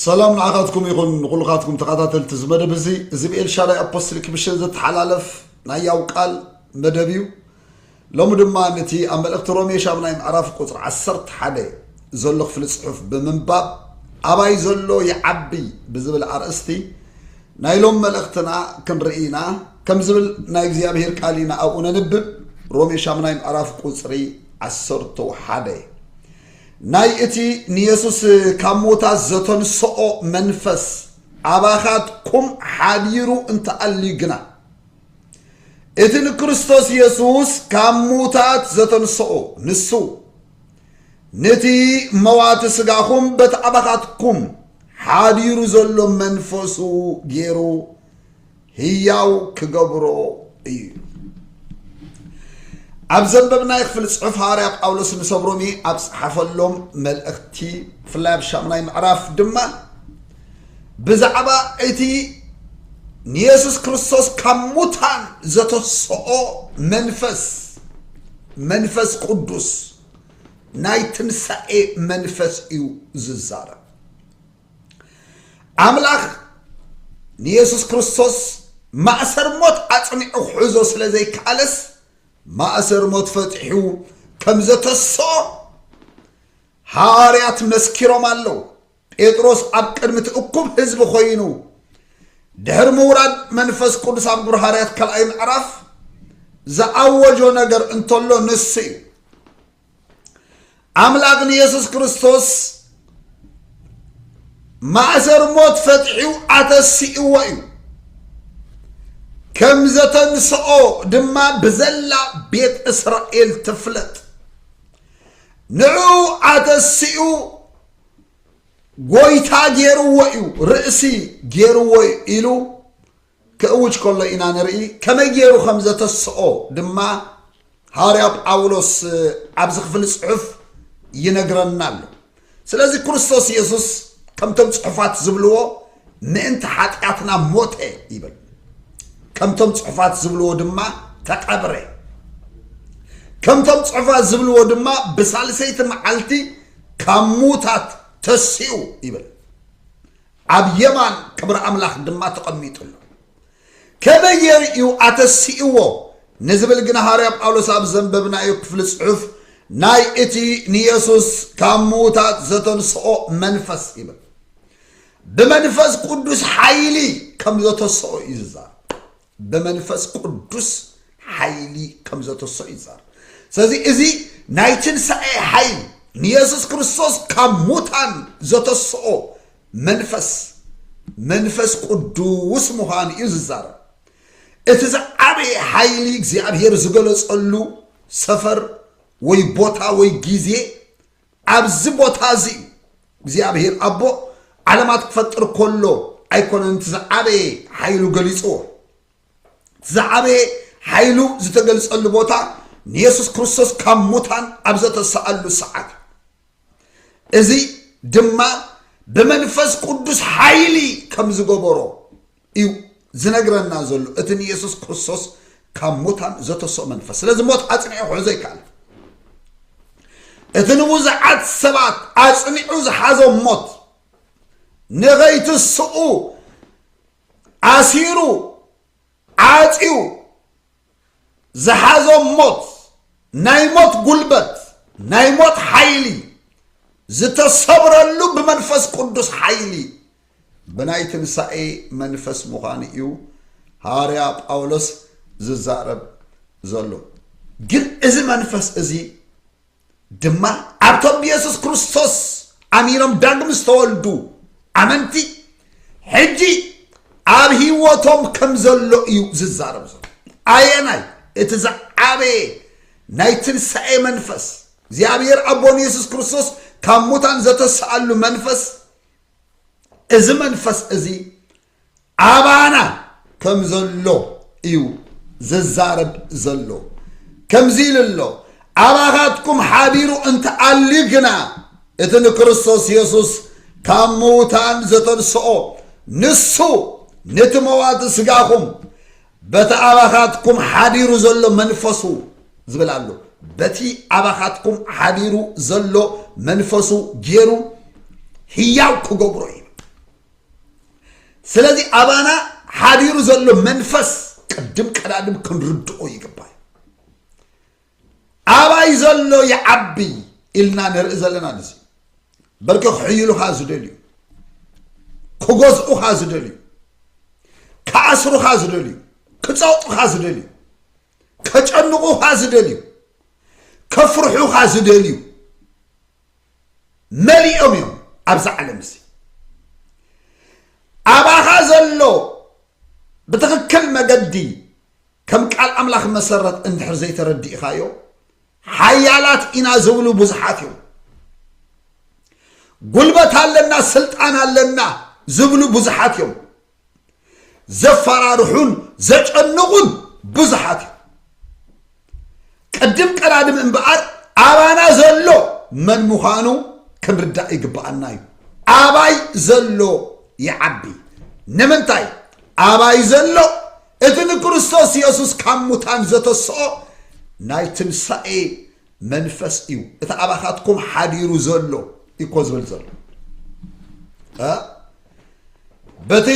ሰላም ንዓኻትኩም ይኹን ንኹልኻትኩም ተኸታተልቲ እዚ መደብ እዚ እዚ ብኤልሻዳይ ኣፖስትሊክ ሚሽን ዝተሓላለፍ ናይ ያው ቃል መደብ እዩ ሎሚ ድማ ነቲ ኣብ መልእኽቲ ሮሜ ሻምናይ ምዕራፍ ቁፅሪ 11 ዘሎ ክፍሊ ፅሑፍ ብምንባብ ኣባይ ዘሎ ይዓቢ ብዝብል ኣርእስቲ ናይ ሎም መልእኽትና ክንርኢ ኢና ከም ዝብል ናይ እግዚኣብሄር ቃል ኢና ኣብኡ ነንብብ ሮሜ ሻምናይ ምዕራፍ ቁፅሪ 11 ናይ እቲ ንየሱስ ካብ ምዉታት ዘተንስኦ መንፈስ ኣባኻትኩም ሓዲሩ እንተ ኣልዩ ግና፣ እቲ ንክርስቶስ የሱስ ካብ ምዉታት ዘተንስኦ ንሱ፣ ንቲ መዋቲ ስጋኹም በቲ ኣባኻትኩም ሓዲሩ ዘሎ መንፈሱ ገይሩ ህያው ክገብሮ እዩ። ኣብ ዘንበብናይ ክፍሊ ጽሑፍ ሃዋርያ ጳውሎስ ንሰብ ሮሜ ኣብ ጸሓፈሎም መልእኽቲ ብፍላይ ኣብ ሻምናይ ምዕራፍ ድማ ብዛዕባ እቲ ንየሱስ ክርስቶስ ካብ ሙታን ዘተስኦ መንፈስ መንፈስ ቅዱስ ናይ ትንሳኤ መንፈስ እዩ ዝዛረብ ኣምላኽ ንየሱስ ክርስቶስ ማእሰር ሞት ኣጽኒዑ ክሕዞ ስለ ዘይከኣለስ ማእሰር ሞት ፈትሑ ከም ዘተስኦ ሃዋርያት መስኪሮም ኣለዉ ጴጥሮስ ኣብ ቅድሚ እቲ እኩብ ህዝቢ ኮይኑ ድሕሪ ምውራድ መንፈስ ቅዱስ ኣብ ግብሪ ሃዋርያት ካልኣይ ምዕራፍ ዝኣወጆ ነገር እንተሎ ንሱ እዩ ኣምላኽ ንየሱስ ክርስቶስ ማእሰር ሞት ፈትሑ ኣተሲእዎ እዩ ከም ዘተንስኦ ድማ ብዘላ ቤት እስራኤል ትፍለጥ ንዑ ኣተሲኡ ጎይታ ገይርዎ እዩ ርእሲ ገይርዎ ኢሉ ክእውጅ ከሎ ኢና ንርኢ፣ ከመይ ገይሩ ከም ዘተስኦ ድማ ሃዋርያ ጳውሎስ ኣብዚ ክፍሊ ጽሑፍ ይነግረና ኣሎ። ስለዚ ክርስቶስ የሱስ ከምቶም ጽሑፋት ዝብልዎ ምእንቲ ሓጢኣትና ሞተ ይብል፣ ከምቶም ጽሑፋት ዝብልዎ ድማ ተቐብረ፣ ከምቶም ጽሑፋት ዝብልዎ ድማ ብሳልሰይቲ መዓልቲ ካብ ሙታት ተሲኡ ይብል። ኣብ የማን ክብሪ ኣምላኽ ድማ ተቐሚጡ ኣሎ። ከመይ ጌሩ እዩ ኣተሲእዎ ንዝብል ግና ሃዋርያ ጳውሎስ ኣብ ዘንበብናዮ ክፍሊ ጽሑፍ ናይ እቲ ንየሱስ ካብ ምዉታት ዘተንስኦ መንፈስ ይብል። ብመንፈስ ቅዱስ ሓይሊ ከም ዘተስኦ እዩ ዝዛረብ። ብመንፈስ ቅዱስ ሓይሊ ከም ዘተሰኡ ይዛረብ ስለዚ እዚ ናይ ትንሳኤ ሓይል ንየሱስ ክርስቶስ ካብ ሙታን ዘተስኦ መንፈስ መንፈስ ቅዱስ ምዃኑ እዩ ዝዛረብ እቲ ዝዓበየ ሓይሊ እግዚኣብሔር ዝገለጸሉ ሰፈር ወይ ቦታ ወይ ጊዜ ኣብዚ ቦታ እዚ እዩ እግዚኣብሄር ኣቦ ዓለማት ክፈጥር ከሎ ኣይኮነን እቲ ዝዓበየ ሓይሉ ገሊፅዎ እቲ ዝዓበየ ሓይሉ ዝተገልፀሉ ቦታ ንየሱስ ክርስቶስ ካብ ሙታን ኣብ ዘተሰኣሉ ሰዓት እዩ እዚ ድማ ብመንፈስ ቅዱስ ሓይሊ ከም ዝገበሮ እዩ ዝነግረና ዘሎ እቲ ንየሱስ ክርስቶስ ካብ ሙታን ዘተስኦ መንፈስ ስለዚ ሞት ኣፅኒዑ ክሕዞ ኣይከኣልን እቲ ንብዙሓት ሰባት ኣፅኒዑ ዝሓዞም ሞት ንኸይትስኡ ኣሲሩ ዓፅዩ ዝሓዞም ሞት ናይ ሞት ጉልበት ናይ ሞት ሓይሊ ዝተሰብረሉ ብመንፈስ ቅዱስ ሓይሊ ብናይ ትንሳኤ መንፈስ ምዃኑ እዩ ሃዋርያ ጳውሎስ ዝዛረብ ዘሎ ግን እዚ መንፈስ እዚ ድማ ኣብቶም ብየሱስ ክርስቶስ ኣሚኖም ዳግም ዝተወልዱ ኣመንቲ ሕጂ ኣብ ህይወቶም ከም ዘሎ እዩ ዝዛረብ ዘሎ ኣየናይ እቲ ዝዓበየ ናይ ትንሳኤ መንፈስ እግዚኣብሔር ኣቦን የሱስ ክርስቶስ ካብ ሙታን ዘተስኣሉ መንፈስ እዚ መንፈስ እዚ ኣባና ከም ዘሎ እዩ ዝዛረብ ዘሎ ከምዚ ኢሉ ኣሎ ኣባኻትኩም ሓቢሩ እንተኣልዩ ግና እቲ ንክርስቶስ የሱስ ካብ ምውታን ዘተንስኦ ንሱ ነቲ መዋቲ ስጋኹም በቲ ኣባኻትኩም ሓዲሩ ዘሎ መንፈሱ ዝብል ኣሎ በቲ ኣባኻትኩም ሓዲሩ ዘሎ መንፈሱ ገይሩ ህያው ክገብሮ እዩ ስለዚ ኣባና ሓዲሩ ዘሎ መንፈስ ቅድም ቀዳድም ክንርድኦ ይግባእ ኣባይ ዘሎ ይዓቢ ኢልና ንርኢ ዘለና ንዚ በርኪ ክሕይሉኻ ዝደልዩ ክገዝኡኻ ዝደልዩ ክኣስሩኻ ዝደልዩ ክፀውጡኻ ዝደልዩ ከጨንቑኻ ዝደልዩ ከፍርሑኻ ዝደልዩ መሊኦም እዮም ኣብዚ ዓለም እዚ ኣባኻ ዘሎ ብትኽክል መገዲ ከም ቃል ኣምላኽ መሰረት እንድሕር ዘይተረዲእኻዮ ሓያላት ኢና ዝብሉ ብዙሓት እዮም ጉልበት ኣለና ስልጣን ኣለና ዝብሉ ብዙሓት እዮም ዘፈራርሑን ዘጨንቑን ብዙሓት እዮም ቅድም ቀዳድም እምበኣር ኣባና ዘሎ መን ምዃኑ ክንርዳእ ይግብኣና እዩ ኣባይ ዘሎ ይዓቢ ንምንታይ ኣባይ ዘሎ እቲ ንክርስቶስ የሱስ ካብ ሙታን ዘተስኦ ናይ ትንሳኤ መንፈስ እዩ እቲ ኣባኻትኩም ሓዲሩ ዘሎ እኮ ዝብል ዘሎ በቲ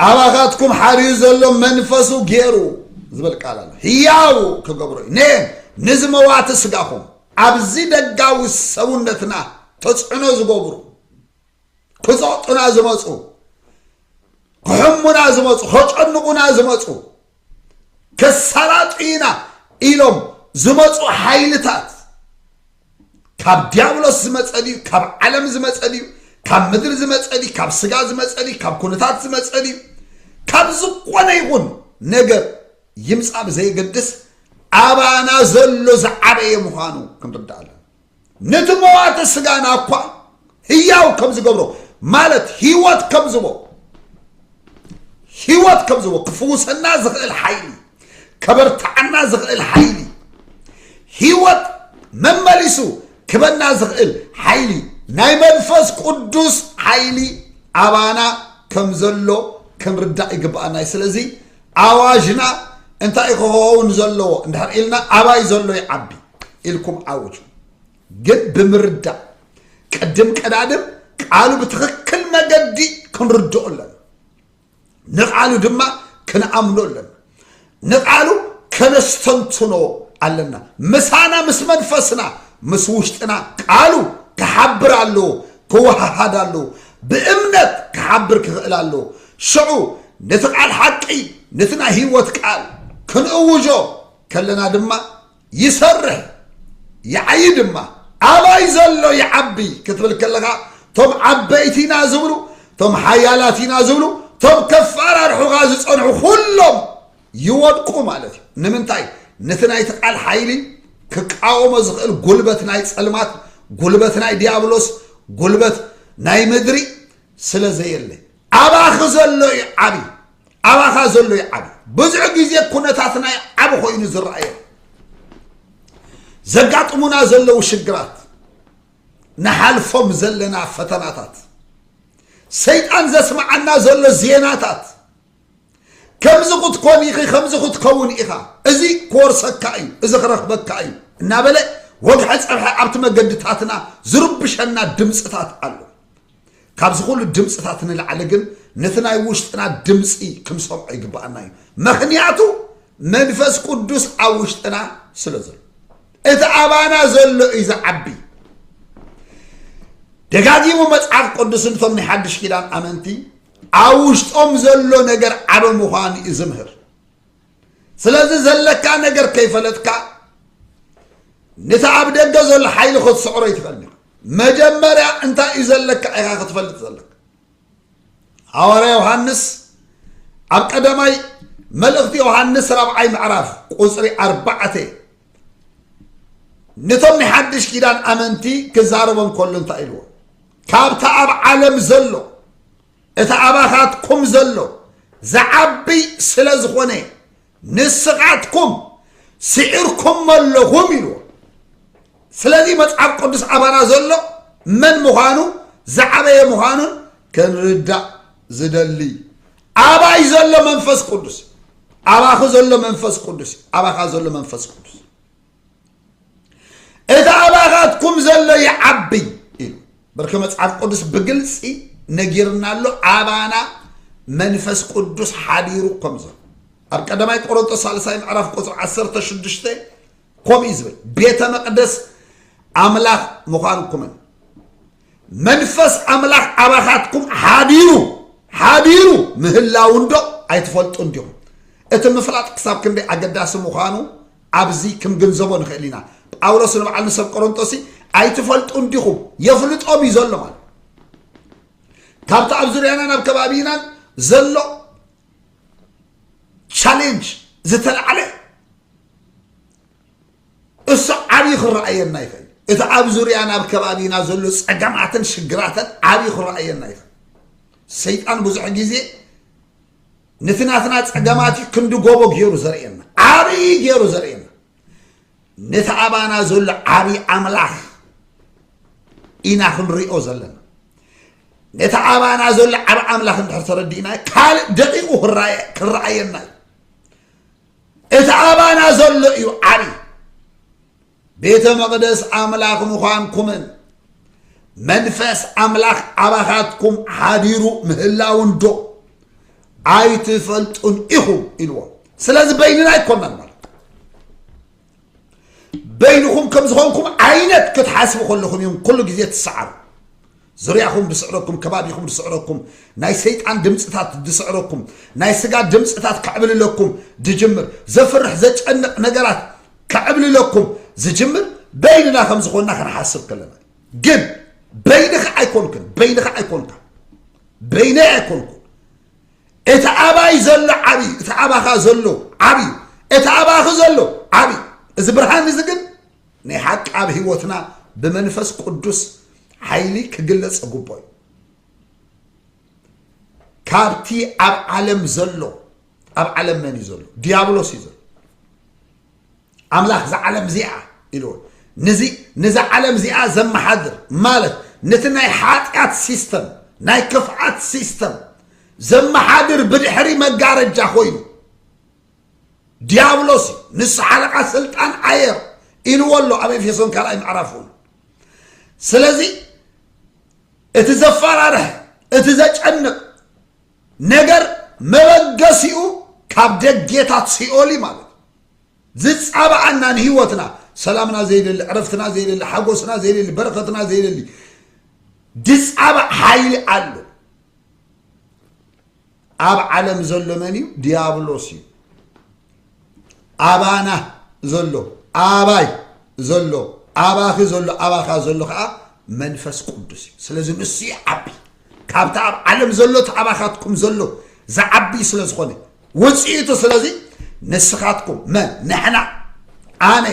ኣባኻትኩም ሓርዩ ዘሎ መንፈሱ ገይሩ ዝብል ቃል ኣሎ ህያው ክገብሮ እዩ ነ ንዚ መዋቲ ስጋኹም ኣብዚ ደጋዊ ሰውነትና ተፅዕኖ ዝገብሩ ክፀጡና ዝመፁ ክሕሙና ዝመፁ ከጨንቑና ዝመፁ ከሳላጡ ኢና ኢሎም ዝመፁ ሓይልታት ካብ ዲያብሎስ ዝመፀ ድዩ ካብ ዓለም ዝመፀ ድዩ ካብ ምድሪ ዝመፀ ድዩ ካብ ስጋ ዝመፀ ድዩ ካብ ኩነታት ዝመፀ ድዩ ካብ ዝኾነ ይኹን ነገር ይምፃእ ብዘየገድስ ኣባና ዘሎ ዝዓበየ ምዃኑ ክንርዳእ ኣለና ነቲ መዋቲ ስጋና እኳ ህያው ከም ዝገብሮ ማለት ህይወት ከም ዝቦ ህይወት ከም ዝቦ ክፍውሰና ዝኽእል ሓይሊ ከበርትዓና ዝኽእል ሓይሊ ህይወት መመሊሱ ክበና ዝኽእል ሓይሊ ናይ መንፈስ ቅዱስ ሓይሊ ኣባና ከም ዘሎ ክንርዳእ ይግብኣና እዩ ስለዚ ኣዋጅና እንታይ ክኸውን ዘለዎ እንድሕር ኢልና ኣባይ ዘሎ ይዓቢ ኢልኩም ዓውጁ። ግን ብምርዳእ ቅድም ቀዳድም ቃሉ ብትኽክል መገዲ ክንርድኦ ኣለና። ንቃሉ ድማ ክንኣምኖ ኣለና። ንቃሉ ከነስተንትኖ ኣለና። ምሳና ምስ መንፈስና ምስ ውሽጥና ቃሉ ክሓብር ኣለዎ፣ ክወሃሃድ ኣለዎ፣ ብእምነት ክሓብር ክኽእል ኣለዎ። ሽዑ ነቲ ቃል ሓቂ ነቲ ናይ ህይወት ቃል ክንእውጆ ከለና ድማ ይሰርሕ ይዓይ ድማ ኣባይ ዘሎ ይዓቢ ክትብል ከለኻ እቶም ዓበይቲ ኢና ዝብሉ እቶም ሓያላት ኢና ዝብሉ እቶም ከፈራርሑኻ ዝፀንሑ ኩሎም ይወድቁ ማለት እዩ ንምንታይ ነቲ ናይቲ ቃል ሓይሊ ክቃወሞ ዝኽእል ጉልበት ናይ ፀልማት ጉልበት ናይ ዲያብሎስ ጉልበት ናይ ምድሪ ስለ ዘየለ ኣባኺ ዘሎ እዩ ዓብዪ ኣባኻ ዘሎ ይዓቢ ብዙሕ ግዜ ኩነታትና ይዓቢ ኮይኑ ዝረኣየን ዘጋጥሙና ዘለዉ ሽግራት ንሓልፎም ዘለና ፈተናታት ሰይጣን ዘስምዓና ዘሎ ዜናታት ከምዚ ክትኮን ኢኺ ከምዚ ክትከውን ኢኻ እዚ ክወርሰካ እዩ እዚ ክረኽበካ እዩ እናበለ ወግሐ ፀብሐ ኣብቲ መገድታትና ዝርብሸና ድምፅታት ኣሎ ካብዚ ኩሉ ድምፅታት ንላዕሊ ግን ነቲ ናይ ውሽጥና ድምፂ ክንሰምዖ ይግባኣና እዩ ምክንያቱ መንፈስ ቅዱስ ኣብ ውሽጥና ስለ ዘሎ እቲ ኣባና ዘሎ እዩ ዝዓቢ ደጋጊሙ መጽሓፍ ቅዱስ ንቶም ናይ ሓድሽ ኪዳን ኣመንቲ ኣብ ውሽጦም ዘሎ ነገር ዓበ ምዃኑ እዩ ዝምህር ስለዚ ዘለካ ነገር ከይፈለጥካ ነቲ ኣብ ደገ ዘሎ ሓይሊ ክትስዕሮ ይትኽእል ኒኻ መጀመርያ እንታይ እዩ ዘለካ ኢኻ ክትፈልጥ ዘለካ ሃዋርያ ዮሃንስ ኣብ ቀዳማይ መልእኽቲ ዮሃንስ ራብዓይ ምዕራፍ ቁፅሪ ኣርባዕተ ነቶም ናይ ሓድሽ ኪዳን ኣመንቲ ክዛረቦም ከሎ እንታይ ኢልዎ ካብቲ ኣብ ዓለም ዘሎ እቲ ኣባኻትኩም ዘሎ ዝዓብይ ስለ ዝኾነ ንስኻትኩም ስዒርኩሞ ኣለኹም ኢልዎ ስለዚ መጽሓፍ ቅዱስ ኣባና ዘሎ መን ምዃኑ ዝዓበየ ምዃኑን ክንርዳእ ዝደሊ ኣባይ ዘሎ መንፈስ ቅዱስ ኣባኺ ዘሎ መንፈስ ቅዱስ ኣባኻ ዘሎ መንፈስ ቅዱስ እቲ ኣባኻትኩም ዘሎ ይዓቢ ኢሉ በርኪ መጽሓፍ ቅዱስ ብግልፂ ነጊርና ኣሎ ኣባና መንፈስ ቅዱስ ሓዲሩ ከም ዘሎ ኣብ ቀዳማይ ቆሮንቶስ ሳልሳይ ምዕራፍ ቁፅሪ 16 ከምኡ እዩ ዝብል ቤተ መቅደስ ኣምላኽ ምዃንኩምን መንፈስ ኣምላኽ ኣባኻትኩም ሓዲሩ ሓዲሩ ምህላው እንዶ ኣይትፈልጡን ዲኹም እቲ ምፍላጥ ክሳብ ክንደይ ኣገዳሲ ምዃኑ ኣብዚ ክንግንዘቦ ንኽእል ኢና ጳውሎስ ንበዓል ንሰብ ቆሮንጦሲ ኣይትፈልጡን ዲኹም የፍልጦም እዩ ዘሎ ማለት ካብቲ ኣብ ዙርያናን ኣብ ከባቢናን ዘሎ ቻሌንጅ ዝተላዕለ እሱ ዓብዪ ክረኣየና ይኽእል እቲ ኣብ ዙርያና ኣብ ከባቢና ዘሎ ፀገማትን ሽግራትን ዓብዪ ክረኣየና ይኽእል ሰይጣን ብዙሕ ግዜ ነቲ ናትና ጸገማት እዩ ክንዲ ጎቦ ገይሩ ዘርእየና ዓብዪ ገይሩ ዘርእየና ነቲ ኣባና ዘሎ ዓብዪ ኣምላኽ ኢና ክንሪኦ ዘለና ነቲ ኣባና ዘሎ ዓብ ኣምላኽ እንድሕር ተረዲእና ካልእ ደቂቑ ክረኣየና እዩ እቲ ኣባና ዘሎ እዩ ዓብዪ ቤተ መቕደስ ኣምላኽ ምዃንኩምን መንፈስ ኣምላኽ ኣባኻትኩም ሓዲሩ ምህላውን ዶ ኣይትፈልጡን ኢኹም ኢልዎም ስለዚ በይንና ኣይኮናን ማለት በይንኹም ከም ዝኾንኩም ዓይነት ክትሓስቡ ከለኹም እዮም ኩሉ ግዜ ትሰዓሩ ዙርያኹም ድስዕረኩም፣ ከባቢኹም ድስዕረኩም፣ ናይ ሰይጣን ድምጽታት ድስዕረኩም፣ ናይ ስጋ ድምጽታት ከዕብልለኩም ድጅምር፣ ዘፍርሕ ዘጨንቕ ነገራት ከዕብልለኩም ዝጅምር በይንና ከም ዝኾንና ክንሓስብ ከለና እዩ። ግን በይንኻ ኣይኮንክን፣ በይንኻ ኣይኮንካ፣ በይነይ ኣይኮንኩ እቲ ኣባይ ዘሎ ዓብዪ እቲ ኣባኻ ዘሎ ዓብዪ እቲ ኣባኺ ዘሎ ዓብዪ እዚ ብርሃን እዚ ግን ናይ ሓቂ ኣብ ህይወትና ብመንፈስ ቅዱስ ሓይሊ ክግለጽ ግቦ እዩ ካብቲ ኣብ ዓለም ዘሎ ኣብ ዓለም መን እዩ ዘሎ ዲያብሎስ እዩ ዘሎ ኣምላኽ ዝዓለም እዚኣ ኢልዎ ነዚ ዓለም እዚኣ ዘመሓድር ማለት ነቲ ናይ ሓጢኣት ሲስተም ናይ ክፍኣት ሲስተም ዘመሓድር ብድሕሪ መጋረጃ ኮይኑ ዲያብሎስ እዩ ንሱ ሓለቓ ስልጣን ኣየር ኢልዎ ኣሎ ኣብ ኤፌሶን ካልኣይ ምዕራፍ እውን ስለዚ እቲ ዘፈራርሐ እቲ ዘጨንቕ ነገር መበገሲኡ ካብ ደጌታት ሲኦል እዩ ማለት ዝፃባኣና ንህይወትና ሰላምና ዘይደሊ ዕረፍትና ዘይደሊ ሓጎስና ዘይደሊ በረከትና ዘይደሊ ድፃባእ ሓይሊ ኣሎ ኣብ ዓለም ዘሎ መን እዩ? ዲያብሎስ እዩ። ኣባና ዘሎ ኣባይ ዘሎ ኣባኺ ዘሎ ኣባኻ ዘሎ ከዓ መንፈስ ቅዱስ እዩ ስለዚ ንሱ ይዓቢ ካብቲ ኣብ ዓለም ዘሎ እቲ ኣባኻትኩም ዘሎ ዝዓቢ ስለ ዝኾነ ውፅኢቱ ስለዚ ንስኻትኩም መን ንሕና ኣነ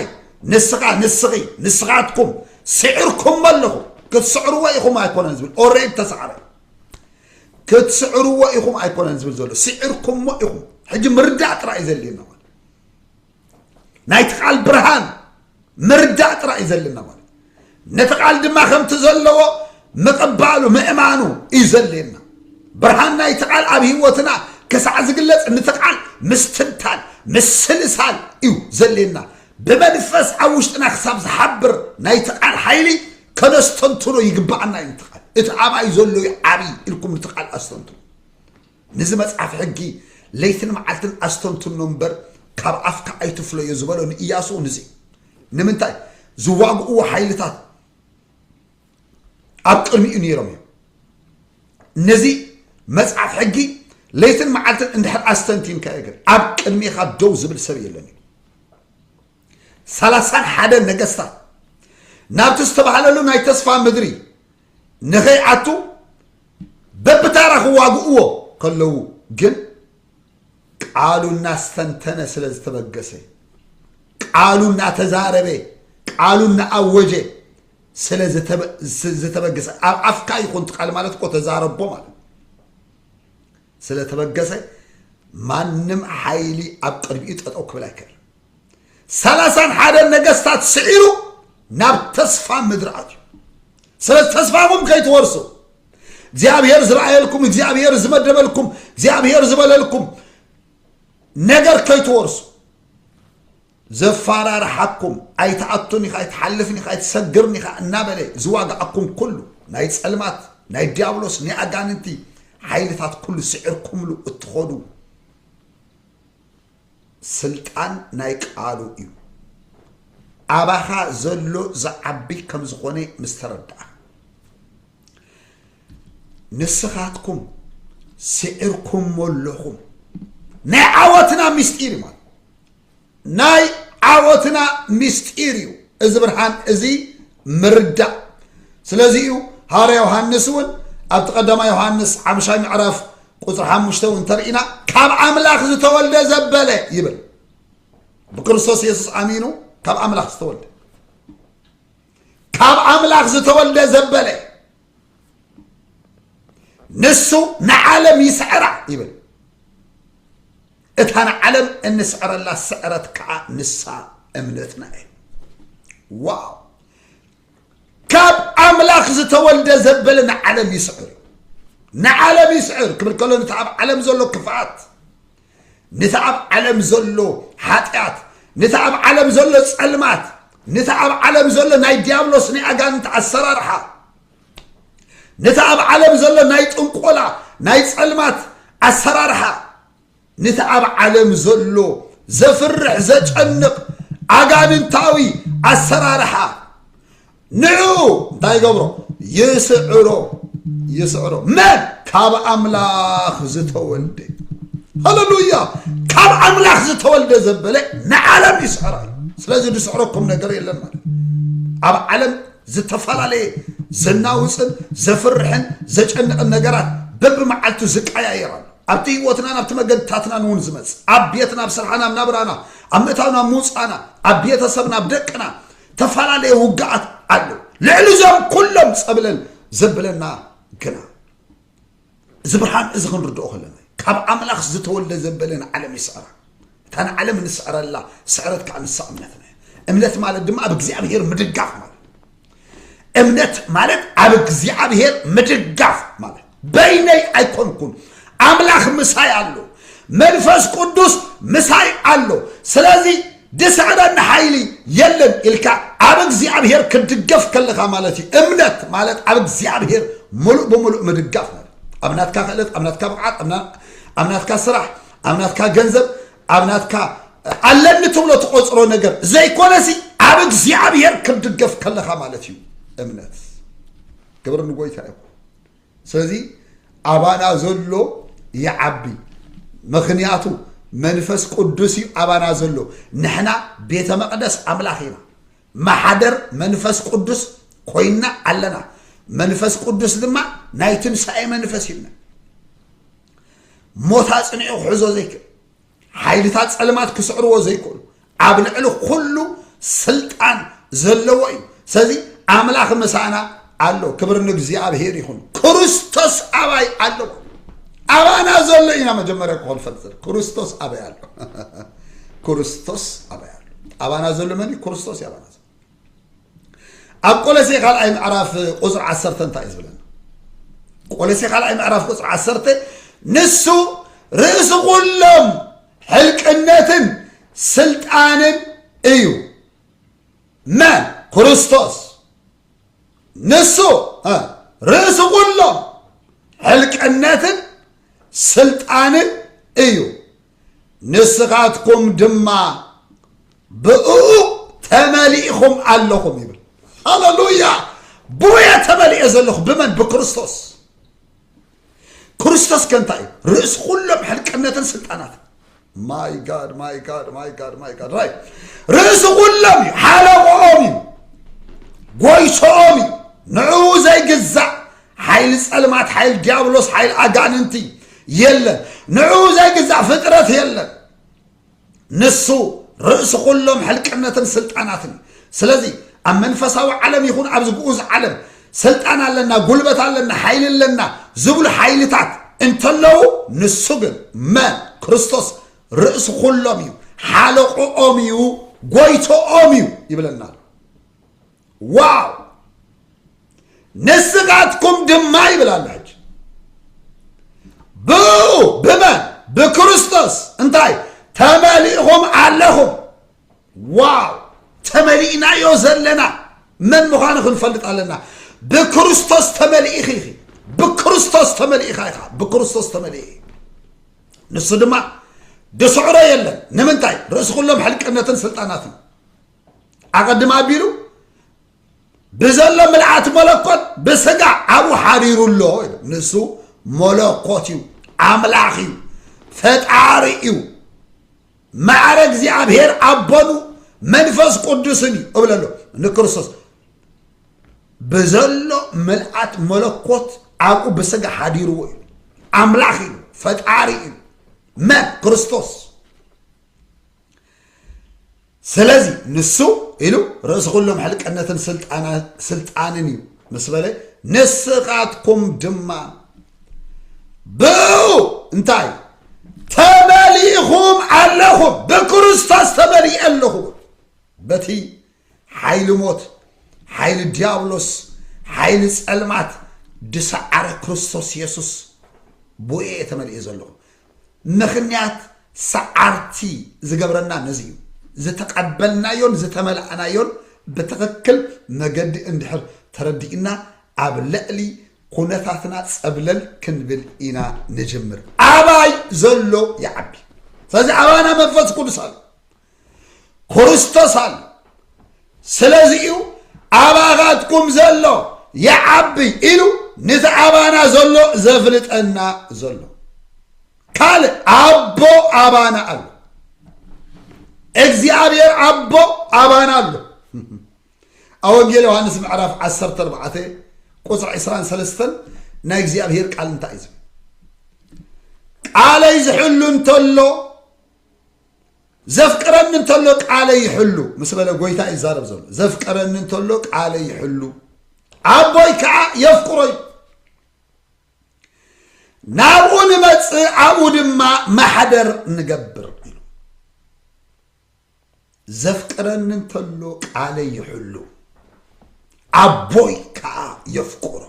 ንስኻ ንስኺ ንስኻትኩም ስዕርኩም ኣለኹም ክትስዕርዎ ኢኹም ኣይኮነን ዝብል ኦሬድ ተሰዕረ ክትስዕርዎ ኢኹም ኣይኮነን ዝብል ዘሎ ስዒርኩሞ ኢኹም ሕጂ ምርዳእ ጥራይ እዩ ዘድልየና ማለት ናይቲ ቃል ብርሃን ምርዳእ ጥራይ እዩ ዘለና ማለት ነቲ ቃል ድማ ከምቲ ዘለዎ ምቕባሉ ምእማኑ እዩ ዘድልየና ብርሃን ናይቲ ቃል ኣብ ህይወትና ክሳዕ ዝግለጽ ንቲ ቃል ምስትንታን ምስልሳል እዩ ዘድልየና ብመንፈስ ኣብ ውሽጥና ክሳብ ዝሓብር ናይቲ ቃል ሓይሊ ከነስተንትኖ ይግባኣና እዩ ትቃል እቲ ኣብይ ዘሎ እዩ ዓብይ ኢልኩም ንትቃል ኣስተንትኑ ንዚ መፅሓፍ ሕጊ ለይትን መዓልትን ኣስተንትኖ እምበር ካብ ኣፍካ ኣይትፍለዮ ዝበሎ ንእያሱ ንዚ ንምንታይ ዝዋግእዎ ሓይልታት ኣብ ቅድሚኡ ነይሮም እዮም ነዚ መፅሓፍ ሕጊ ለይትን መዓልትን እንድሕር ኣስተንቲንካዮ ግን ኣብ ቅድሚኻ ደው ዝብል ሰብ የለን እዩ ሰላሳን ሓደን ነገስታት ናብቲ ዝተባህለሉ ናይ ተስፋ ምድሪ ንኸይኣቱ በብታራ ክዋግእዎ ከለዉ ግን ቃሉ እናስተንተነ ስለ ዝተበገሰ ቃሉ እናተዛረበ ቃሉ እናኣወጀ ስለ ዝተበገሰ ኣብ ኣፍካ ይኹን ትቃል ማለት እኮ ተዛረቦ ማለት ስለ ተበገሰ ማንም ሓይሊ ኣብ ቅድሚኡ ጠጠው ክብል ኣይክእልን። ሰላሳን ሓደን ነገስታት ስዒሩ ናብ ተስፋ ምድሪ ኣትዩ። ስለ ተስፋኹም ከይትወርሱ እግዚኣብሔር ዝረኣየልኩም እግዚኣብሔር ዝመደበልኩም እግዚኣብሔር ዝበለልኩም ነገር ከይትወርሱ ዘፋራርሓኩም ኣይትኣቱን ኢኻ ኣይትሓልፍን ኢኻ ኣይትሰግርን ኢኻ እናበለ ዝዋግኣኩም ኩሉ ናይ ጸልማት ናይ ድያብሎስ ናይ ኣጋንንቲ ሓይልታት ኩሉ ስዒርኩምሉ እትኾዱ ስልጣን ናይ ቃሉ እዩ ኣባኻ ዘሎ ዝዓቢ ከም ዝኾነ ምስ ተረድኣ ንስኻትኩም ስዒርኩሞ ኣለኹም ናይ ዓወትና ምስጢር እዩ ማለት ናይ ዓወትና ምስጢር እዩ እዚ ብርሃን እዚ ምርዳእ ስለዚ እዩ ሃዋርያ ዮሃንስ እውን ኣብቲ ቀዳማ ዮሃንስ ሓምሻይ ምዕራፍ ቁፅሪ ሓሙሽተ እውን ተርኢና ካብ ኣምላኽ ዝተወልደ ዘበለ ይብል ብክርስቶስ የሱስ ኣሚኑ ካብ ኣምላኽ ዝተወልደ ካብ ኣምላኽ ዝተወልደ ዘበለ ንሱ ንዓለም ይስዕራ ይብል እታ ንዓለም እንስዕረላ ስዕረት ከዓ ንሳ እምነትና እዩ ዋው ካብ ኣምላኽ ዝተወልደ ዘበለ ንዓለም ይስዕር እዩ ንዓለም ይስዕር ክብል ከሎ ነቲ ኣብ ዓለም ዘሎ ክፍኣት ነቲ ኣብ ዓለም ዘሎ ሓጢኣት ነቲ ኣብ ዓለም ዘሎ ጸልማት ነቲ ኣብ ዓለም ዘሎ ናይ ዲያብሎስ ናይ ኣጋንንቲ ኣሰራርሓ ነቲ ኣብ ዓለም ዘሎ ናይ ጥንቆላ ናይ ጸልማት ኣሰራርሓ ንቲ ኣብ ዓለም ዘሎ ዘፍርሕ ዘጨንቕ ኣጋንንታዊ ኣሰራርሓ ንዕኡ እንታይ ይገብሮ ይስዕሮ ይስዕሮ መን ካብ ኣምላኽ ዝተወልደ ሃለሉያ ካብ ኣምላኽ ዝተወልደ ዘበለ ንዓለም ይስዕራ እዩ ስለዚ ዝስዕረኩም ነገር የለን ማለት ኣብ ዓለም ዝተፈላለየ ዘናውፅን ዘፍርሕን ዘጨንቕን ነገራት በብመዓልቱ ዝቀያየር ኣሎ ኣብቲ ህይወትናን ኣብቲ መገድታትናን እውን ዝመጽእ ኣብ ቤትና ኣብ ስርሓና ኣብ ናብራና ኣብ ምእታውን ኣብ ምውፃና ኣብ ቤተሰብና ኣብ ደቅና ተፈላለየ ውግኣት ኣሎ ልዕሊ እዞም ኩሎም ጸብለል ዘብለና ግና እዚ ብርሃን እዚ ክንርድኦ ከለና ካብ ኣምላኽ ዝተወልደ ዘበለ ንዓለም ይስዕራ እታ ንዓለም ንስዕረላ ስዕረት ከዓ ንሳ እምነትና እምነት ማለት ድማ ኣብ እግዚኣብሄር ምድጋፍ ማለት እምነት ማለት ኣብ እግዚኣብሔር ምድጋፍ ማለት በይነይ ኣይኮንኩን ኣምላኽ ምሳይ ኣሎ መንፈስ ቅዱስ ምሳይ ኣሎ ስለዚ ድስዕረኒ ሓይሊ የለን ኢልካ ኣብ እግዚኣብሔር ክድገፍ ከለኻ ማለት እዩ እምነት ማለት ኣብ እግዚኣብሔር ሙሉእ ብምሉእ ምድጋፍ ማለት ኣብ ናትካ ክእለት ኣብ ናትካ ብቕዓት ኣብ ናትካ ስራሕ ኣብ ናትካ ገንዘብ ኣብ ናትካ ኣለኒ ትብሎ ትቆፅሮ ነገር ዘይኮነሲ ኣብ እግዚኣብሔር ክትድገፍ ከለካ ማለት እዩ እምነት ክብሪ ንጎይታ ይኹን ስለዚ ኣባና ዘሎ ይዓቢ ምክንያቱ መንፈስ ቅዱስ እዩ ኣባና ዘሎ ንሕና ቤተ መቅደስ ኣምላኽ ኢና ማሓደር መንፈስ ቅዱስ ኮይና ኣለና መንፈስ ቅዱስ ድማ ናይ ትንሳኤ መንፈስ ይብና ሞት ኣጽኒዑ ክሕዞ ዘይክእል ሓይልታት ጸልማት ክስዕርዎ ዘይክእሉ ኣብ ልዕሊ ኩሉ ስልጣን ዘለዎ እዩ ስለዚ ኣምላኽ ምሳና ኣሎ ክብር ንእግዚኣብሔር ይኹን ክርስቶስ ኣባይ ኣሎ ኣባና ዘሎ ኢና መጀመርያ ክኾን ፈልጥ ክርስቶስ ኣበይ ኣሎ ክርስቶስ ኣበይ ኣሎ ኣባና ዘሎ መን እዩ ክርስቶስ እዩ ኣባና ዘሎ ኣብ ቆለሴ ካልኣይ ምዕራፍ ቁፅሪ ዓሰርተ እንታይ እዩ ዝብለና ቆለሴ ካልኣይ ምዕራፍ ቁፅሪ ዓሰርተ ንሱ ርእሲ ኩሎም ሕልቅነትን ስልጣንን እዩ መን ክርስቶስ ንሱ ርእሲ ኩሎም ሕልቅነትን ስልጣንን እዩ ንስኻትኩም ድማ ብእኡ ተመሊእኹም ኣለኹም ይብል ሃለሉያ ብውየ ተመሊኦ ዘለኹ ብመን ብክርስቶስ ክርስቶስ ከ እንታይ እዩ ርእሲ ኩሎም ሕልቅነትን ስልጣናት ማይ ጋድ ማይ ጋድ ማይ ጋድ ማይ ጋድ ራይ ርእሲ ኩሎም እዩ ሓለቆኦም እዩ ጎይሶኦም እዩ ንዕኡ ዘይግዛእ ሓይሊ ጸልማት ሓይል ዲያብሎስ ሓይል ኣጋንንቲ የለን ንዕኡ ዘይግዛእ ፍጥረት የለን ንሱ ርእሲ ኩሎም ሕልቅነትን ስልጣናትን ስለዚ ኣብ መንፈሳዊ ዓለም ይኹን ኣብዚ ግኡዝ ዓለም ስልጣን ኣለና ጉልበት ኣለና ሓይሊ ኣለና ዝብሉ ሓይልታት እንተለዉ ንሱ ግን መን ክርስቶስ ርእሲ ኩሎም እዩ ሓለቆኦም እዩ ጎይቶኦም እዩ ይብለና ኣሎ ዋው ንስኻትኩም ድማ ይብላላች ብኡ ብመን ብክርስቶስ እንታይ ተመሊእኹም ኣለኹም ዋው ተመሊእናዮ ዘለና መን ምዃኑ ክንፈልጥ ኣለና ብክርስቶስ ተመሊእኺ ኢኺ ብክርስቶስ ተመሊእኻ ኢኻ ብክርስቶስ ተመሊእ ንሱ ድማ ድስዕሮ የለን ንምንታይ ርእሲ ኩሎም ሕልቅነትን ስልጣናትን ኣቐድም ኣቢሉ ብዘሎ ምልኣት መለኮት ብስጋ ኣብኡ ሓሪሩ ኣሎ ኢሉ ንሱ መለኮት እዩ ኣምላኽ እዩ ፈጣሪ እዩ ማዕረ እግዚኣብሔር ኣቦኑ መንፈስ ቅዱስን እዩ እብል ኣሎ ንክርስቶስ ብዘሎ ምልኣት መለኮት ኣብኡ ብስጋ ሓዲርዎ እዩ ኣምላኽ እዩ ፈጣሪ እዩ መን ክርስቶስ ስለዚ ንሱ ኢሉ ርእሲ ኩሎም ሕልቅነትን ስልጣንን እዩ ምስ በለ ንስኻትኩም ድማ ብኡ እንታይ ተመሊእኹም ኣለኹም ብክርስቶስ ተመሊእ ኣለኹ በቲ ሓይሊ ሞት ሓይሊ ድያብሎስ ሓይሊ ጸልማት ድሰዓረ ክርስቶስ የሱስ ብኡ እየ ተመሊኤ ዘለኹ ምኽንያት ሰዓርቲ ዝገብረና ነዚ እዩ ዝተቐበልናዮን ዝተመላእናዮን ብትኽክል መገዲ እንድሕር ተረዲእና ኣብ ልዕሊ ኩነታትና ጸብለል ክንብል ኢና ንጅምር ኣባይ ዘሎ ይዓቢ ስለዚ ኣባና መንፈስ ቅዱስ ኣሎ ክርስቶስ ኣሎ ስለዚ እዩ ኣባኻትኩም ዘሎ ይዓቢ ኢሉ ነቲ ኣባና ዘሎ ዘፍልጠና ዘሎ ካልእ ኣቦ ኣባና ኣሎ እግዚኣብሔር ኣቦ ኣባና ኣሎ ኣብ ወንጌል ዮሃንስ ምዕራፍ 14 ቁፅሪ 23 ናይ እግዚኣብሔር ቃል እንታይ እዩ ዝብል ቃለይ ዝሕሉ እንተሎ ዘፍቅረኒ እንተሎ ቃለይ ይሕሉ ምስ በለ ጎይታ እዩ ዛረብ ዘሎ ዘፍቅረኒ እንተሎ ቃለይ ይሕሉ ኣቦይ ከዓ የፍቅሮ እዩ ናብኡ ንመፅእ ኣብኡ ድማ ማሕደር ንገብር ኢሉ ዘፍቅረኒ እንተሎ ቃለይ ይሕሉ ኣቦይ ከዓ የፍቁሮ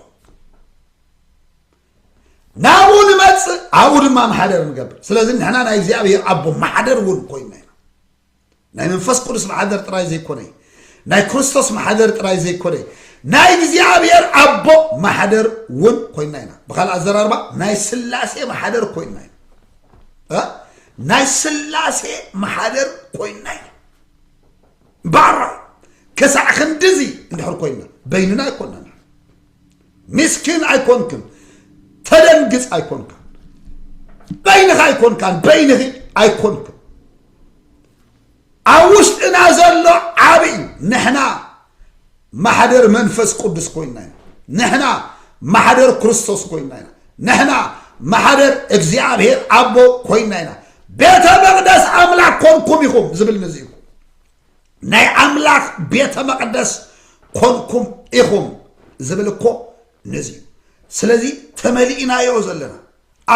ናብኡ ንመፅእ ኣብኡ ድማ ማሕደር ንገብር ስለዚ ንሕና ናይ እግዚኣብሔር ኣቦ ማሕደር እውን ኮይና ኢና ናይ መንፈስ ቅዱስ ማሕደር ጥራይ ዘይኮነ ናይ ክርስቶስ ማሕደር ጥራይ ዘይኮነ ናይ እግዚኣብሔር ኣቦ ማሕደር እውን ኮይና ኢና ብካልእ ኣዘራርባ ናይ ስላሴ ማሕደር ኮይና ኢና ናይ ስላሴ መሓደር ኮይና ኢና ባራ ከሳዕ ክንድዚ እንድሕር ኮይና በይንና ኣይኮናና ምስኪን ኣይኮንክን ተደንግፅ ኣይኮንካን በይንኻ ኣይኮንካን በይንኺ ኣይኮንክን ኣብ ውሽጥና ዘሎ ዓቢ እዩ ንሕና ማሕደር መንፈስ ቅዱስ ኮይና ኢና ንሕና ማሕደር ክርስቶስ ኮይና ኢና ንሕና ማሕደር እግዚኣብሔር ኣቦ ኮይና ኢና ቤተ መቅደስ ኣምላክ ኮንኩም ኢኹም ዝብል ንዚ እዩ ናይ ኣምላክ ቤተ መቅደስ ኮንኩም ኢኹም ዝብል እኮ ነዚ እዩ ስለዚ ተመሊእናዮ ዘለና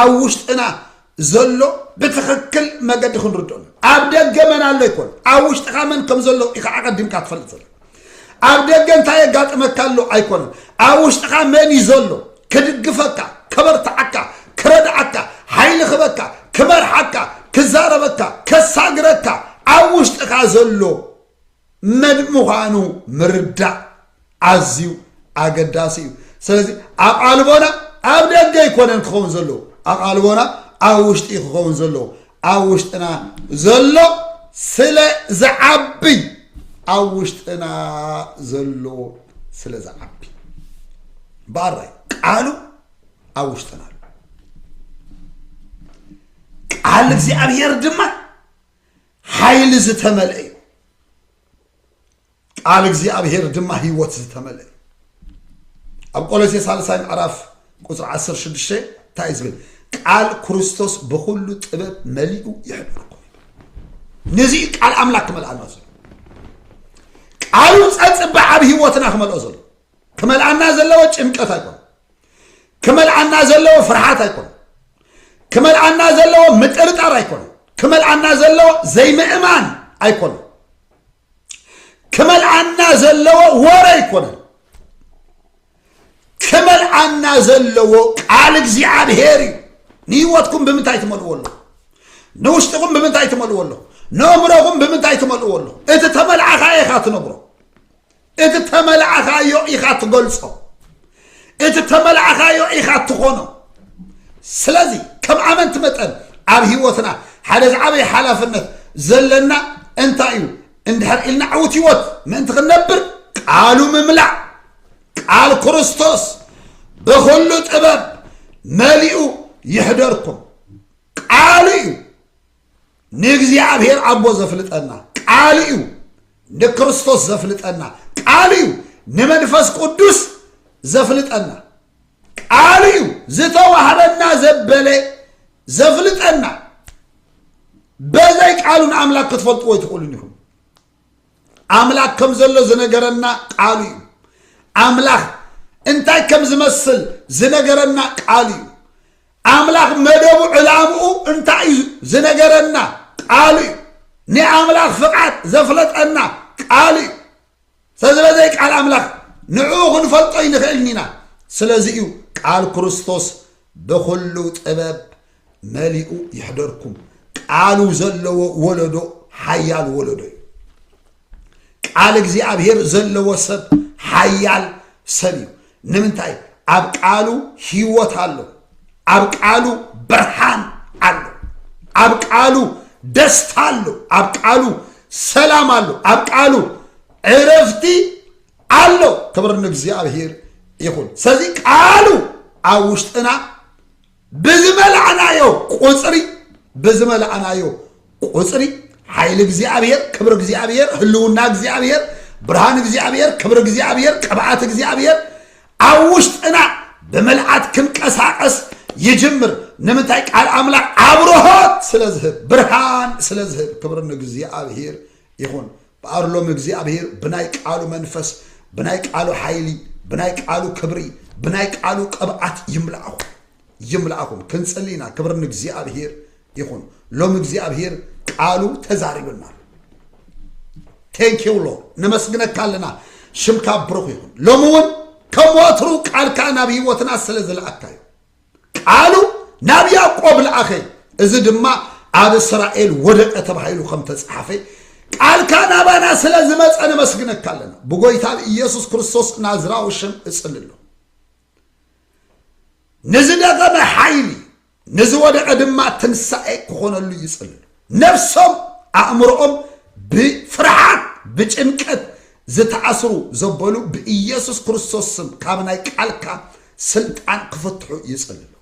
ኣብ ውሽጥና ዘሎ ብትኽክል መገዲ ክንርድኦ ኣብ ደገ መን ኣሎ ይኮን ኣብ ውሽጥኻ መን ከም ዘሎ ኢኻ ኣቐዲምካ ትፈልጥ ዘሎ ኣብ ደገ እንታይ የጋጥመካ ኣሎ ኣይኮነን ኣብ ውሽጥኻ መን እዩ ዘሎ ክድግፈካ ከበርትዓካ ክረድዓካ ሓይሊ ክበካ ክመርሓካ ክዛረበካ ከሳግረካ ኣብ ውሽጥኻ ዘሎ መን ምዃኑ ምርዳእ ኣዝዩ ኣገዳሲ እዩ ስለዚ ኣቓልቦና ኣብ ደገ ኣይኮነን ክኸውን ዘለዎ ኣቓልቦና ኣብ ውሽጢ ክኸውን ዘለዎ ኣብ ውሽጥና ዘሎ ስለ ዝዓቢ ኣብ ውሽጥና ዘሎ ስለ ዝዓቢ ባራይ ቃሉ ኣብ ውሽጥና ኣሎ ቃል እግዚኣብሔር ድማ ሓይሊ ዝተመልአ እዩ ቃል እግዚኣብሔር ድማ ህይወት ዝተመልአ እዩ ኣብ ቆሎሴ ሳልሳይ ምዕራፍ ቁፅሪ 16 እንታይ እዩ ዝብል ቃል ክርስቶስ ብኩሉ ጥበብ መሊኡ ይሕብርኩም ነዚ እዩ ቃል ኣምላክ ክመልኣና ዘሎ ቃሉ ፀፅበ ዓብ ህይወትና ክመልኦ ዘሎ ክመልኣና ዘለዎ ጭንቀት ኣይኮነ ክመልኣና ዘለዎ ፍርሓት ኣይኮነ ክመልኣና ዘለዎ ምጥርጣር ኣይኮነ ክመልኣና ዘለዎ ዘይምእማን ኣይኮነ ክመልኣና ዘለዎ ወረ ኣይኮነን ክመልኣና ዘለዎ ቃል እግዚኣብሔር እዩ ንህይወትኩም ብምንታይ ትመልእዎ ኣለኹ ንውሽጥኹም ብምንታይ ትመልእዎ ኣለኹ ንእምሮኹም ብምንታይ ትመልእዎ ኣለኹ እቲ ተመልዓኻ ኢኻ ትነብሮ እቲ ተመላእኻዮ ኢኻ ትገልጾ እቲ ተመላእኻዮ ኢኻ ትኾኖ ስለዚ ከም ኣመንቲ መጠን ኣብ ህይወትና ሓደ ዝዓበየ ሓላፍነት ዘለና እንታይ እዩ እንድሕር ኢልና ዕውት ህይወት ምእንቲ ክንነብር ቃሉ ምምላእ ቃል ክርስቶስ ብኩሉ ጥበብ መሊኡ ይሕደርኩም ቃሉ እዩ ንእግዚኣብሔር ኣቦ ዘፍልጠና ቃል እዩ ንክርስቶስ ዘፍልጠና ቃል እዩ ንመንፈስ ቅዱስ ዘፍልጠና ቃል እዩ ዝተዋህበና ዘበለ ዘፍልጠና በዘይ ቃሉን ኣምላክ ክትፈልጥዎ ይትኽእሉን ኢኹም ኣምላኽ ከም ዘሎ ዝነገረና ቃሉ እዩ። ኣምላኽ እንታይ ከም ዝመስል ዝነገረና ቃሉ እዩ። ኣምላኽ መደቡ ዕላምኡ እንታይ እዩ ዝነገረና ቃሉ እዩ። ናይ ኣምላኽ ፍቓድ ዘፍለጠና ቃሉ እዩ። ስለዚ በዘይ ቃል ኣምላኽ ንዕኡ ክንፈልጦ ይንኽእልን ኢና። ስለዚ እዩ ቃል ክርስቶስ ብኹሉ ጥበብ መሊኡ ይሕደርኩም ቃሉ ዘለዎ ወለዶ ሓያል ወለዶ እዩ ቃል እግዚኣብሔር ዘለዎ ሰብ ሓያል ሰብ እዩ ንምንታይ ኣብ ቃሉ ህይወት ኣሎ ኣብ ቃሉ ብርሃን ኣሎ ኣብ ቃሉ ደስታ ኣሎ ኣብ ቃሉ ሰላም ኣሎ ኣብ ቃሉ ዕረፍቲ ኣሎ ክብር ንእግዚኣብሔር ይኹን ስለዚ ቃሉ ኣብ ውሽጥና ብዝመላእናዮ ቁጽሪ ብዝመላእናዮ ቁጽሪ ሓይሊ እግዚኣብሔር ክብሪ እግዚኣብሔር ህልውና እግዚኣብሔር ብርሃን እግዚኣብሔር ክብሪ እግዚኣብሔር ቅብኣት እግዚኣብሔር ኣብ ውሽጥና ብምልኣት ክንቀሳቀስ ይጅምር ንምንታይ ቃል ኣምላኽ ኣብርሆት ስለ ዝህብ ብርሃን ስለ ዝህብ ክብሪ ንእግዚኣብሔር ይኹን እምበኣር ሎሚ እግዚኣብሄር ብናይ ቃሉ መንፈስ፣ ብናይ ቃሉ ሓይሊ፣ ብናይ ቃሉ ክብሪ፣ ብናይ ቃሉ ቅብኣት ይምልኣኹም። ይምልኣኹም። ክንጽሊ ኢና። ክብሪ ንእግዚኣብሄር ይኹን። ሎሚ እግዚኣብሄር ቃሉ ተዛሪብና ኣሎ። ቴንክ ዩ ሎርድ ነመስግነካ ኣለና። ሽምካ ብሩኽ ይኹን። ሎሚ እውን ከም ወትሩ ቃልካ ናብ ህይወትና ስለ ዝለኣካዮ ቃሉ ናብ ያዕቆብ ለኣኸ፣ እዚ ድማ ኣብ እስራኤል ወደቀ ተባሂሉ ከም ተጸሓፈ፣ ቃልካ ናባና ስለ ዝመጸ ነመስግነካ ኣለና። ብጎይታ ብኢየሱስ ክርስቶስ ናዝራዊ ሽም እጽሊ ኣሎ። ንዝደኸመ ሓይሊ፣ ንዝወደቀ ድማ ትንሳኤ ክኾነሉ ይጽልሉ። ነብሶም ኣእምሮኦም ብፍርሓት ብጭንቀት ዝተኣስሩ ዘበሉ ብኢየሱስ ክርስቶስ ስም ካብ ናይ ቃልካ ስልጣን ክፍትሑ ይጽልሉ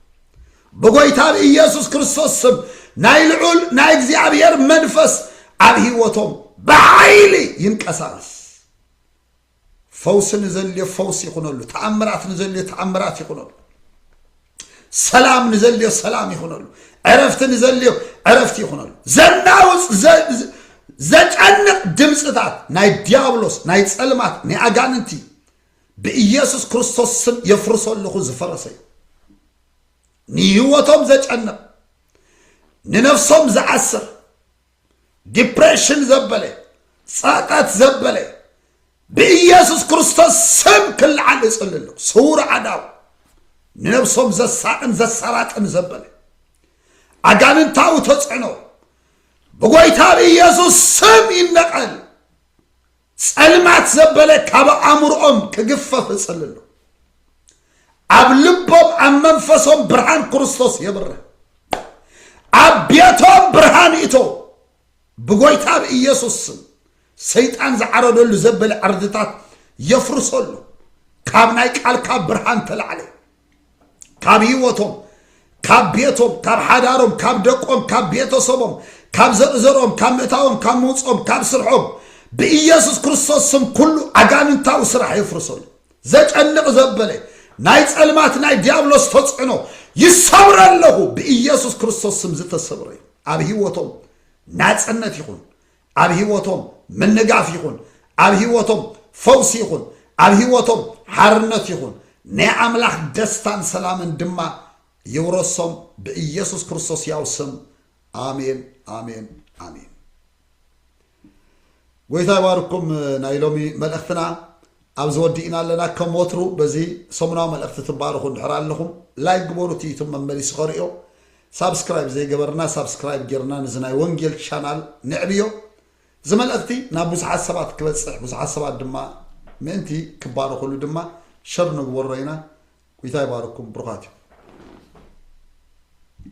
ብጎይታ ብኢየሱስ ክርስቶስ ስም ናይ ልዑል ናይ እግዚኣብሔር መንፈስ ኣብ ህይወቶም ብሓይሊ ይንቀሳቀስ ፈውሲ ንዘልዮ ፈውሲ ይኹነሉ። ተኣምራት ንዘልዮ ተኣምራት ይኹነሉ። ሰላም ንዘልዮ ሰላም ይኹነሉ። ዕረፍቲ ንዘልዮ ዕረፍቲ ይኹነሉ። ዘናውፅ ዘጨንቕ ድምፅታት ናይ ዲያብሎስ ናይ ፀልማት ናይ ኣጋንንቲ ብኢየሱስ ክርስቶስ ስም የፍርሶ ኣለኹ ዝፈረሰ እዩ ንህይወቶም ዘጨንቕ ንነፍሶም ዝዓስር ዲፕሬሽን ዘበለ ጸቀት ዘበለ ብኢየሱስ ክርስቶስ ስም ክልዓል እጽሊ ኣለኹ ስውር ዓዳው ንነብሶም ዘሳቅን ዘሰራጥን ዘበለ ኣጋንንታዊ ተጽዕኖ ብጎይታ ብኢየሱስ ስም ይነቀል ጸልማት ዘበለ ካብ ኣእምሮኦም ክግፈፍ እጽልሉ። ኣብ ልቦም ኣብ መንፈሶም ብርሃን ክርስቶስ የብርህ። ኣብ ቤቶም ብርሃን እቶ ብጎይታ ብኢየሱስ ስም ሰይጣን ዝዓረደሉ ዘበለ ዕርድታት የፍርሰሉ። ካብ ናይ ቃልካ ብርሃን ተላዕለ። ካብ ህይወቶም ካብ ቤቶም ካብ ሓዳሮም ካብ ደቆም ካብ ቤተሰቦም ካብ ዘርእዘሮም ካብ ምእታዎም ካብ ምውፆም ካብ ስርሖም ብኢየሱስ ክርስቶስ ስም ኩሉ ኣጋንንታዊ ስራሕ የፍርሰሉ ዘጨንቕ ዘበለ ናይ ጸልማት ናይ ዲያብሎስ ተጽዕኖ ይሰብረ ኣለኹ ብኢየሱስ ክርስቶስ ስም ዝተሰብረ እዩ ኣብ ህይወቶም ናጽነት ይኹን ኣብ ህይወቶም ምንጋፍ ይኹን፣ ኣብ ህይወቶም ፈውሲ ይኹን፣ ኣብ ህይወቶም ሓርነት ይኹን፣ ናይ ኣምላኽ ደስታን ሰላምን ድማ ይውረሶም ብኢየሱስ ክርስቶስ ያው ስም ኣሜን ኣሜን ኣሜን። ጎይታ ይባርኩም ናይ ሎሚ መልእኽትና ኣብዚ ወዲእና ኣለና ከም ወትሩ በዚ ሰሙናዊ መልእኽቲ ትባረኹ እንድሕር ኣለኹም ላይክ ግበሩ እቲ ዩቱብ መመሊሱ ከርእዮ ሳብስክራይብ ዘይገበርና ሳብስክራይብ ጌርና ነዚ ናይ ወንጌል ቻናል ነዕብዮ እዚ መልእኽቲ ናብ ብዙሓት ሰባት ክበጽሕ ብዙሓት ሰባት ድማ ምእንቲ ክባረኹሉ ድማ ሸር ንግበሮ ኢና ጒይታ ይባርኩም ብሩኻት እዩ